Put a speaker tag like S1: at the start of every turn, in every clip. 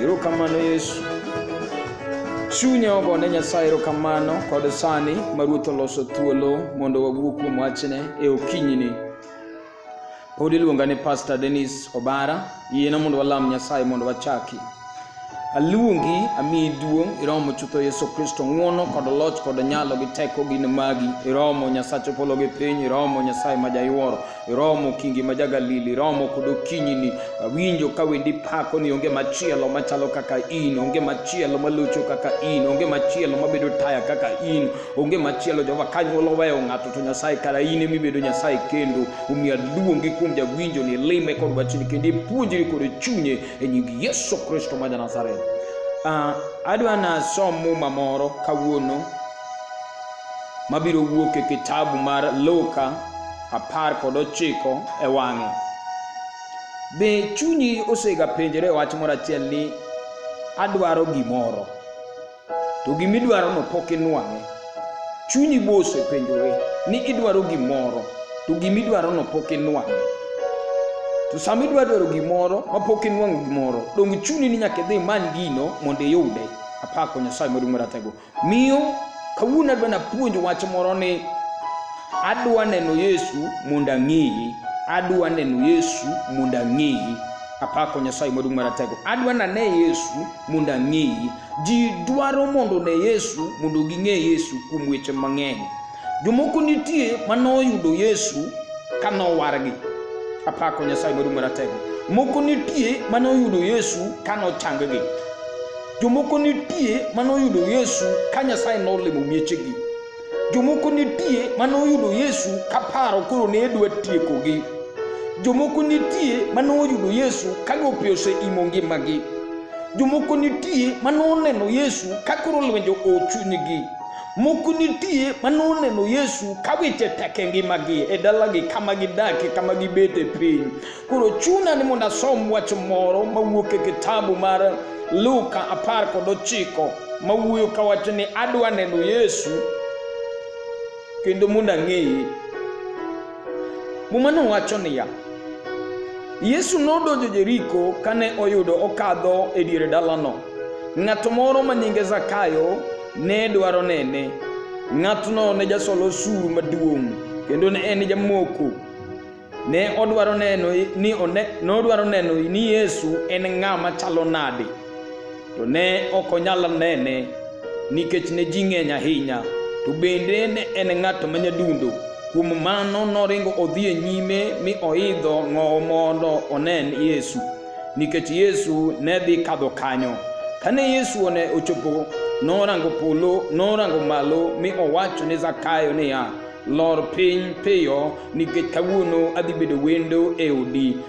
S1: Erokamano Yesu. Chunya ogo ne Nyasaye erokamano kod sani ma Ruoth oloso thuolo mondo wawuo kuom wachne e okinyini. Pod iluonga ni Pastor Dennis Obara, yiena mondo walam Nyasaye mondo wachaki. Aluongi, amiyi duong', iromo chutho Yesu Kristo, ng'wono kod loch kod nyalo gi teko gin magi. Iromo Nyasacho polo gi piny, iromo Nyasaye ma jayuoro. iromo kingi ma jagalili iromo kod okinyini awinjo ka wendi pako ni onge machielo machalo kaka in onge machielo malucho kaka in onge machielo mabedo taya kaka in onge machielo jehova kanyuolo weyo ng'ato to nyasaye kara in emibedo nyasaye kendo omiyo aluongi kuom jawinjo ni lime kod wachni kendo ipuonjri kod chunye e nying yesu kristo ma janazareth uh, ah, adwa nasom muma moro kawuono mabiro wuok e kitabu mar luka apar kod ochiko e wang'e. Be chunyi osegapenjore wach moro achiel ni adwaro gimoro to gimidwarono pok inwang'e? Chunyi be osepenjore ni idwaro gimoro to gimidwarono pok inwang'e? To sama idwa dwaro gimoro ma pok inwang'o gimoro, donge chuni ni nyaka idhi imany gino mondo iyude? Apako Nyasaye maduong' maratego. Miyo, kawuono adwa napuonj wach moro ni adwa neno Yesu mondo ang'eyi, adwa neno Yesu mondo ang'eyi. Apako Nyasaye maduong' maratego. Adwa nane Yesu mondo ang'eyi. Ji dwaro mondo ne Yesu mondo ging'e Yesu kuom weche mang'eny. Jomoko nitie ma noyudo Yesu ka nowargi. Apako Nyasaye maduong' maratego. Moko nitie ma noyudo Yesu ka nochanggi. Jomoko nitie ma noyudo Yesu ka Nyasaye nolimo miechegi. Jomoko nitie ma noyudo Yesu ka paro koro ne dwa tiekogi. Jomoko nitie ma noyudo Yesu ka gope oseimo ngimagi. Jomoko nitie ma noneno Yesu ka koro lwenje ochunygi. Moko nitie ma noneno Yesu ka weche tek e ngimagi, e dalagi, kama gidakie, kama gibete piny. Koro chuna ni mondo asom wach moro mawuok e kitabu mar Luka apar kod ochiko mawuoyo kawacho ni adwa neno Yesu kendo mondo ang'eye. Mumano wacho niya, Yesu nodonjo Jeriko kane oyudo okadho e dier dalano. Ng'ato moro ma nyinge Zakayo ne dwaro nene. Ng'atno ne jasol osuru maduong' kendo ne en jamoko. Ne odwaro neno ni one, nodwaro neno ni Yesu en ng'a machalo nade. to ne ok onyal nene nikech ne ji ng'eny ahinya, to bende ne en ng'at ma nyadundo. Kuom mano noringo odhi e nyime mi oidho ng'owo mondo onen Yesu, nikech Yesu ne dhi kadho kanyo. Kane Yesu one ochopo, norango polo, norango malo mi owacho ne Zakayo niya, lor piny piyo nikech kawuono adhi bedo wendo e odi.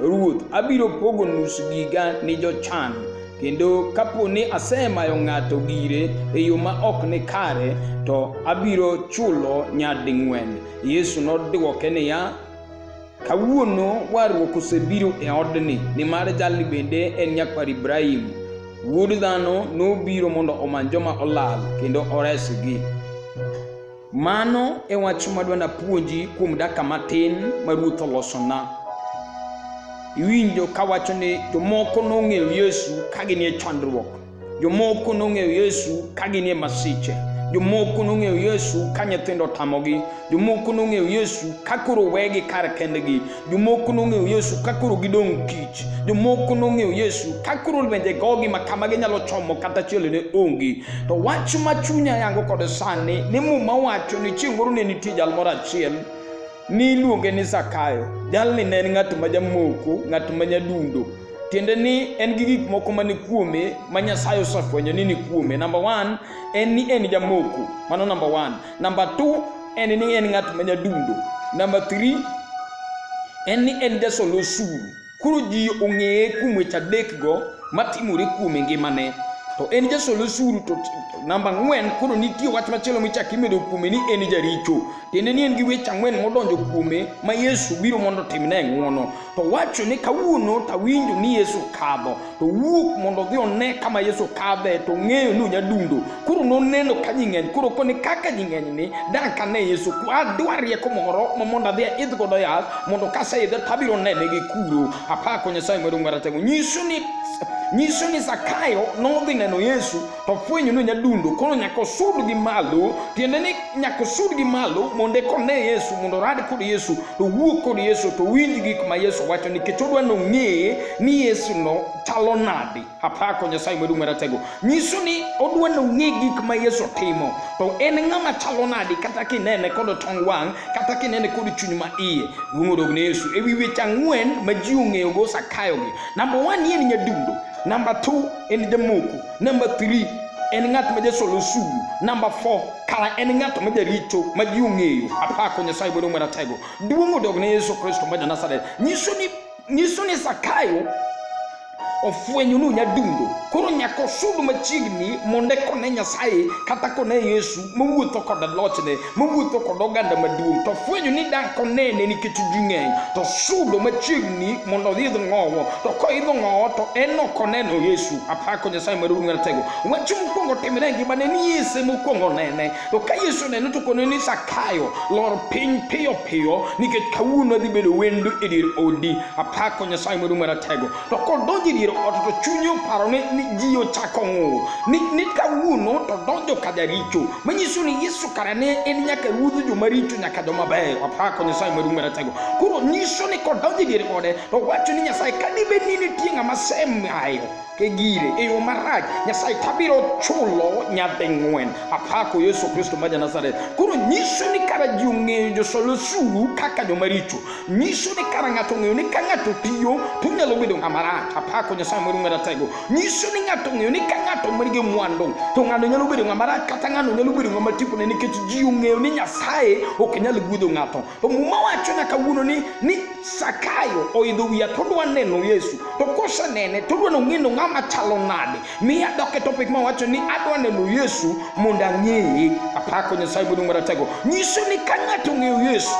S1: Ruoth, abiro pogo nus giga ni jochan, kendo kapo ni asemayo ng'ato gire e yo ma ok ni kare, to abiro chulo nyading'wen. Yesu nodwoke niya, Kawuono warruok osebiro e odni, nimar jalni bende en nyakwar Ibrahim. Wuod dhano nobiro mondo omany joma olal kendo oresgi. Mano e wach madwa napuonji kuom dakika matin ma Ruoth olosona. Iwinjo kawacho ni jomoko nong'eyo Yesu ka ginie chandruok, jomoko nong'eyo Yesu ka ginie masiche, jomoko nong'eyo Yesu ka nyithindo tamogi, jomoko nong'eyo Yesu ka koro wegi kar kendgi, Jomoko nong'eyo Yesu ka koro gidong' kich. Jomoko nong'eyo Yesu ka koro lwenje gogi ma kama ginyalo chomo kata chielo ne onge. To wach ma chunya yango kod sani ni muma wacho ni chieng' moro ne nitie jal moro achiel ni iluonge ni Zakayo. Jalni ne en ng'at ma jamoko, ng'at ma nyadundo. Tiende ni en gi gik moko mani kuome ma Nyasaye osefwenyo ni ni kuome. Namba one en ni en jamoko. Mano namba one. Namba 2 en ni en ng'at ma nyadundo. Namba 3 en ni en jasol osuru. Koro ji ong'eye kuom weche adekgo matimore kuom e ngimane. To en jasol osuru to namba ang'wen koro nitie wach machielo michako imedo kuome ni en jaricho. Tiende ni en gi weche ang'wen modonjo kuome ma Yesu biro mondo otimne ng'wono. to wacho ni kawuono to awinjo ni Yesu kadho to wuok mondo odhi one kama Yesu kadhe to ng'eyo ni onyadundo koro noneno ka ji ng'eny koro koni kaka ji ng'eny ni dan ka ne Yesu adwa rieko moro ma mondo adhi aidh godo yath mondo kaseidhe to abiro nene gi kuro apako Nyasaye maduong' maratego nyiso ni nyiso ni Zakayo nodhi neno Yesu to fwenyo ni nyadundo koro nyaka osud gi malo tiende ni nyaka osud gi malo mondo eka one yesu mondo orad kod yesu to wuo kod yesu to winj gik ma yesu wacho nikech odwa ni ong'e ni yesu no chalo nadi apako nyasaye maduong' maratego nyiso ni odwa ni ong'e gik ma yesu timo to en ng'ama chalo nadi kata kinene kod tong wang' kata kinene kod chuny ma iye duong' odog ne yesu e wi weche ang'wen ma ji ong'eyogo sakayogi namba one ni en nyadundo namba two ɛne de moku number three ɛne ŋa tuma de solo sugu number four kala ɛne ŋa tuma de rito ma di ŋa eyo a paa ko nyɛ sa ibolo ŋmɛra tɛgo dubu ŋo dɔgɔ ne yesu kristo ma dana sare nyiso ni nyiso ni sakayo ɔfuenyo no nya dundo koro nya kɔ so do ma kyigni mo ne kɔ ne nyasaye kata kɔ ne yesu mo wuo tɔkɔ da lɔkyene mowuotho kod oganda maduong' to fwenyo ni dak onene nikech ji ng'eny to sudo machiegni mondo odhi idho ng'owo to koidho ng'owo to en ok oneno yesu apako nyasaye maduong' maratego wach mokwongo timre e ngimane ni yese mokwongo nene to ka yesu onene to kone ni sakayo lor piny piyo piyo nikech kawuono adhi bedo wendo e dier odi apako nyasaye maduong' maratego to kodonjo e dier ot to chunye oparo ni, ni ji ochako ng'ur ni, ni kawuono to donjo ka jaricho manyiso ni yesu kara ne en nyaka ruodh joma richo nyaka joma beyo apako nyasaye maduong' maratego koro nyiso ni kodonjo e dier ode to wacho ni nyasaye ka dibed ni nitie ng'ama semayo e gire e yo marach nyasaye tabiro chulo nyading'wen apako yesu kristo ma ja nazareth koro nyiso ni kara ji ong'eyo josol osuru kaka jomaricho nyiso ni kara ng'ato ong'eyo ni ka ng'ato tiyo to onyalo bedo ng'ama rach apako nyasaye moro maratego nyiso ni ng'ato ong'eyo ni ka ng'ato manigi mwandu to ng'ano nyalo bedo ng'ama rach kata ng'ano nyalo bedo ng'ama tipone nikech ji ong'eyo ni nyasaye ok nyal guedho ng'ato to muma wacho nyaka wuono ni ni sakayo oidho wiya to odwa neno yesu to kosenene to odwa nong'eno ng'ama chalo nade mi adok e topic mawacho ni adwa neno yesu mondo ang'eye apako nyasaye maduong' maratego nyiso ni ka ng'ato ong'eyo yesu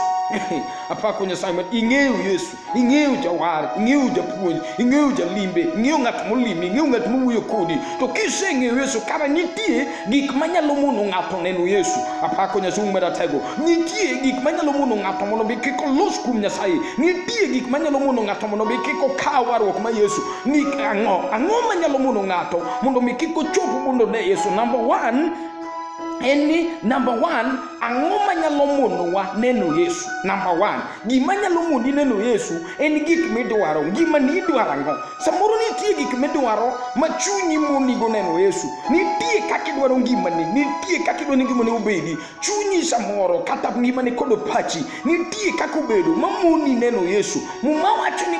S1: apako nyasaye ma ing'eyo yesu ing'eyo jawar ing'eyo japuonj ing'eyo jalimbe ing'eyo ng'at molimi ing'eyo ng'at mowuoyo kodi to kiseng'eyo yesu kara nitie gik manyalo mono ng'ato neno yesu apako nyasaye um maratego nitie gik manyalo mono ng'ato mondo mi kik olos kuom nyasaye nitie gik manyalo mono ng'ato mondo mi kik okaw warruok ma yesu ni ang'o ang'o manyalo mono ng'ato mondo mi kik ochop mondo ne yesu number one en ni namba one ang'o manyalo monowa neno yesu namba one gima nyalo moni neno yesu en gik midwaro ngima ni idwaro ang'o samoro nitie gik midwaro ma chunyi monigo neno yesu nitie kaka idwaro ngimani nitie kaka idwaro ni ngimani obedi chunyi samoro kata ngimani kod pachi nitie kaka obedo mamoni neno yesu muma wacho ni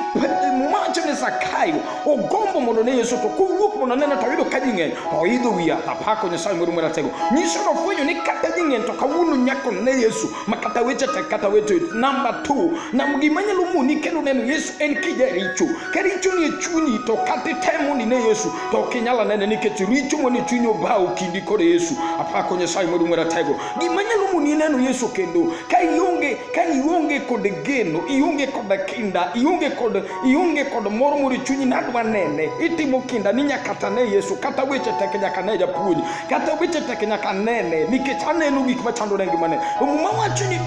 S1: muma wacho ni zakayo ogombo mondo ne yesu to kowuok mondo neno to oyudo ka ji ng'eny to oidho wi yath apako nyasaye moro maratego nyiso nofwenyo ni kata ji ng'eny to kawuono nyako ne yesu ma kata weche tek kata weche namba t nam gima nyalo moni kendo neno yesu en kijaricho ka richo ni e chunyi to kata itemo ni ne yesu to ok inyal anene nikech richo mane chuny obawo kindi kod yesu apako nyasaye modu ng'wera tego gima nyalo moni neno yesu kendo ka ionge ka ionge kod geno ionge kod kinda ionge kod ionge kod mor moro chunyi nadwa nene itimo kinda ni nyaka tane yesu kata weche tek nyaka ne japuonj kata weche tek nyaka nene nikech aneno gik machando ne ngimane muma wacho ni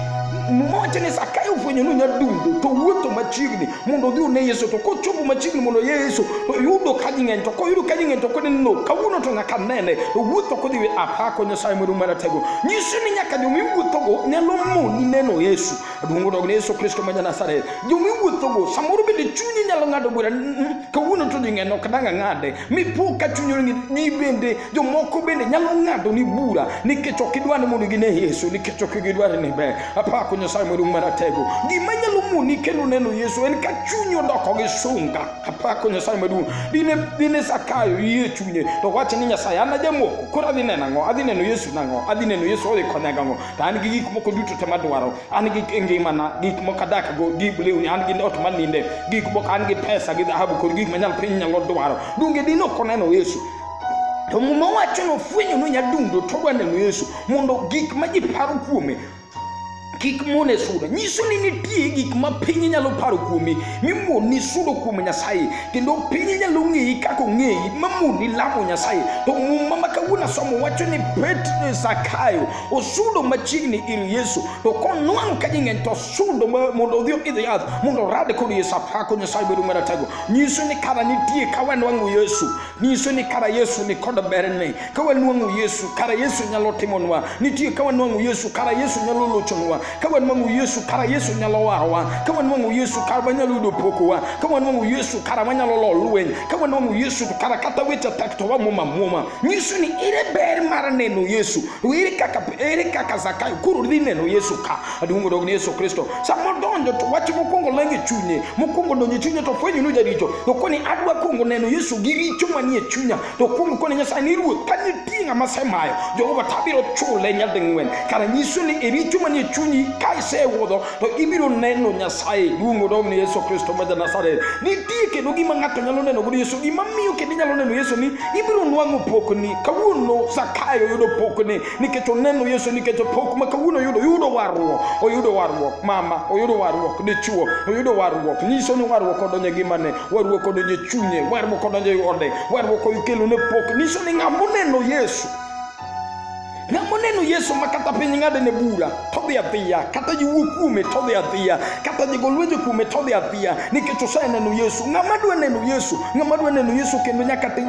S1: mmoja ni sakayo fwenyo ni nyadundo to wuotho machiegni mondo odhi one yesu to kochopo machiegni mondo oye yesu to yudo kaji ng'eny to koyudo kaji ng'eny to kone no kawuono to nyaka nene to wuotho kodhi we apako nyasaye modu maratego nyiso ni nyaka joma iwuothogo nyalo moni neno yesu aduongo dog ne yesu kristo ma janasaret joma iwuothogo samoro bende chunyi nyalo ng'ado bura mm, mm, kawuono to ji ng'eny ok dang ang'ade mipo ka chuny oringi ni bende jomoko bende nyalo ng'ado ni bura nikech ok idwa ni mondo gine Yesu nikech ok gidwa ni ber apako Nyasaye maduong' maratego gima nyalo moni kendo neno Yesu en ka chuny odoko gi sunga apako Nyasaye maduong' dine dine sakayo yie chunye to wacho ni Nyasaye an ajamoko koro adhi neno ang'o adhi neno Yesu nang'o adhi neno Yesu odhi konya gang'o to an gi gik moko duto te madwaro an gi ngimana gik moko adakgo gik lewni an gi ot maninde gik moko an gi pesa gi dhahabu kod gik manyal piny nyalo dwaro donge dine ok oneno yesu to muma wacho nofwenyo no nyadundo to odwa neno yesu mondo gik ma ji paro kuome kik mone sudo nyiso ni nitie gik ma piny nyalo paro kuomi mimoni sudo kuom nyasaye kendo piny nyalo ng'eyi kaka ong'eyi mamoni lamo nyasaye to muma ma kawuono somo wacho ni petro zakayo osudo machiegni ir yesu to konwang' ka jing'eny to sudo mondo odhi idho yath mondo orade kod yesu apako nyasaye bedo maratego nyiso ni kara nitie ka wanwang'o yesu nyiso ni kara yesu ni kod berne ka wanwang'o yesu kara yesu nyalo timonwa nitie ka wanwang'o yesu kara yesu nyalo lochonwa ka wanwang'o yesu kara yesu nyalo warowa ka wanwang'o yesu kara wanyalo yudo pokowa ka wanwang'o yesu kara wanyalo lo lweny ka wanwang'o yesu to kara kata weche tek to wamwoma mwoma nyiso ni ere ber mar neno yesu to ere kaka ere kaka zakayo koro dhi neno yesu ka aduong' odog ni yesu kristo sama odonjo to wach mokwongo lengo e chunye mokwongo donjo e chunye to fwenyo ni jaricho to koni adwa kwongo neno yesu gi richo manie chunya to kwongo koni nyasaye ni ruoth ka nitie ng'ama semayo jehova tabiro chule nyading'wen kara nyiso ni e richo manie chunyi ka isewuodho to ibiro neno Nyasaye duong' odog ni Yesu Kristo ma Janasareth. Nitie kendo gima ng'ato nyalo neno godo Yesu, gima miyo kendo inyalo neno Yesu ni ibiro nwang'o pokni. Kawuono Zakayo yudo pokni nikech oneno Yesu nikech pok ma kawuono yudo yudo warruok, oyudo warruok mama, oyudo warruok dichuo, oyudo warruok. Nyiso ni warruok odonjo e ngimane, warruok odonjo e chunye, warruok odonjo e ode, warruok okelone pok. Nyiso ni ng'ama oneno Yesu na moneno yesu ma kata piny ng'adene bura todhi adhiya kata jiwuo kuome todhi adhiya kata jigo lwenje kuome todhi adhiya nikech oseneno yesu ng'ama dwa neno yesu ng'ama dwa neno yesu kendo nyaka ti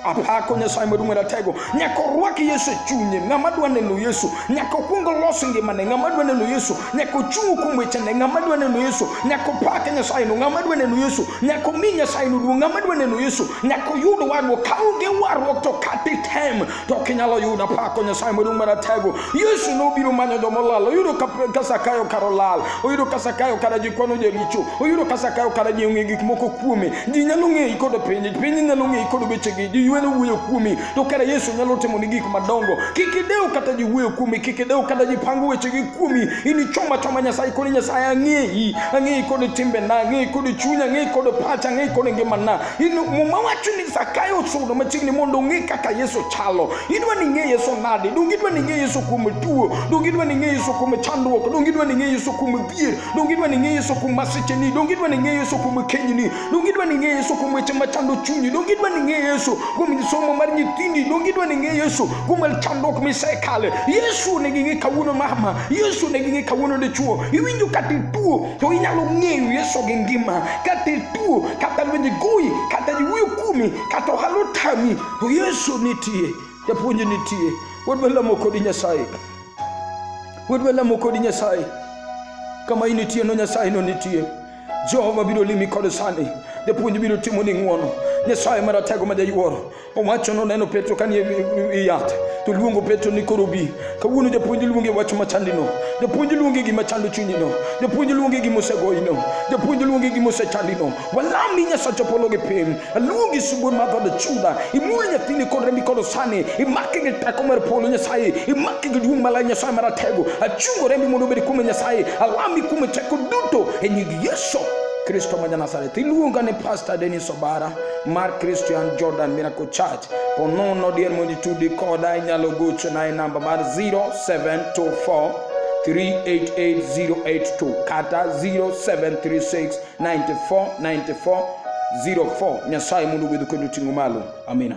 S1: apako nyasaye maduong' ratego nyaka orwak yesu e chunye ng'ama dwa neno yesu nyaka okwong olos ngimane ng'ama dwa neno yesu nyaka ochung' kuom wechene ng'ama dwa neno yesu nyaka opake nyasaye no ng'ama dwa neno yesu nyaka omi nyasaye no duong' ng'ama dwa neno yesu nyaka oyud warruok ka onge warruok to kata item to ok inyalo yudo apako nyasaye maduong' maratego yesu nobiro manyo joma olal oyudo ka sakayo kar olal oyudo ka sakayo kara ji kwano jaricho oyudo ka sakayo kara ji ong'e gik moko kuome ji nyalo ng'eyi kod piny piny nyalo ng'eyi kod wechegi ji yueno wuoyo kuomi to kara yesu nyalo timo ni gik madongo kik idew kata ji wuoyo kuomi kik idew kata ji pango wechegi kuomi inichoma choma nyasaye koni nyasaye ang'eyi ang'eyi kod timbena ang'eyi kod chunya ang'eyi kod pacha ang'eyi kod ngimana in muma wacho ni zakayo osudo machiegni mondo ong'e kaka yesu chalo idwa ni ing'e yesu nade donge idwa ni ing'e yesu kuom tuo donge idwa ni ing'e yesu kuom chandruok donge idwa ni ing'e yesu kuom dhier donge idwa ni ing'e yesu kuom masicheni donge idwa ni ing'e yesu kuom kenyni donge idwa ni ing'e yesu kuom weche machando chunyi donge idwa ni ing'e yesu kuom somo mar nyithindi donge idwa ni ing'e yesu kuom chandruok misekale yesu ne ging'e kawuono mama yesu ne ging'e kawuono dichuo iwinjo kata ituo to inyalo ng'eyo Yesu gi ngima kata ituo kata lwenje goyi kata jiwuyo kumi kata ohala otami to Yesu nitie japuonj nitie wadwa lamo kodi Nyasaye wadwa lamo kodi Nyasaye kama initie no Nyasaye no nitie Jehova biro limi kod sani japuonj biro timo ni ng'wono Nyasaye maratego ma jayuoro Owacho noneno Petro kanie e yath to luongo Petro ni koro bi. Kawuono japuonj luonge wach machandino. Japuonj luonge gima chando chunyino. Japuonj luonge gima osegoyino. Japuonj luonge gima osechandino. Walam ni Nyasacho polo gi piny. Aluongi subon mar God Juda. Imul nyathini kod rembi kod osani. Imaki gi teko mar polo Nyasaye. Imaki gi duong' malay Nyasaye maratego. Achungo rembi mondo obed kuome Nyasaye. Alami kuome teko duto e nying Yesu Kristo ma Janazareth. Iluonga ni Pastor Dennis Obara. mar Christian Jordan Miracle Church. Ponono dier mondo itudi koda inyalo gochona e namba mar 0724 388082 kata 0736949404 nyasaye mondo obed kendo ting'o malo amina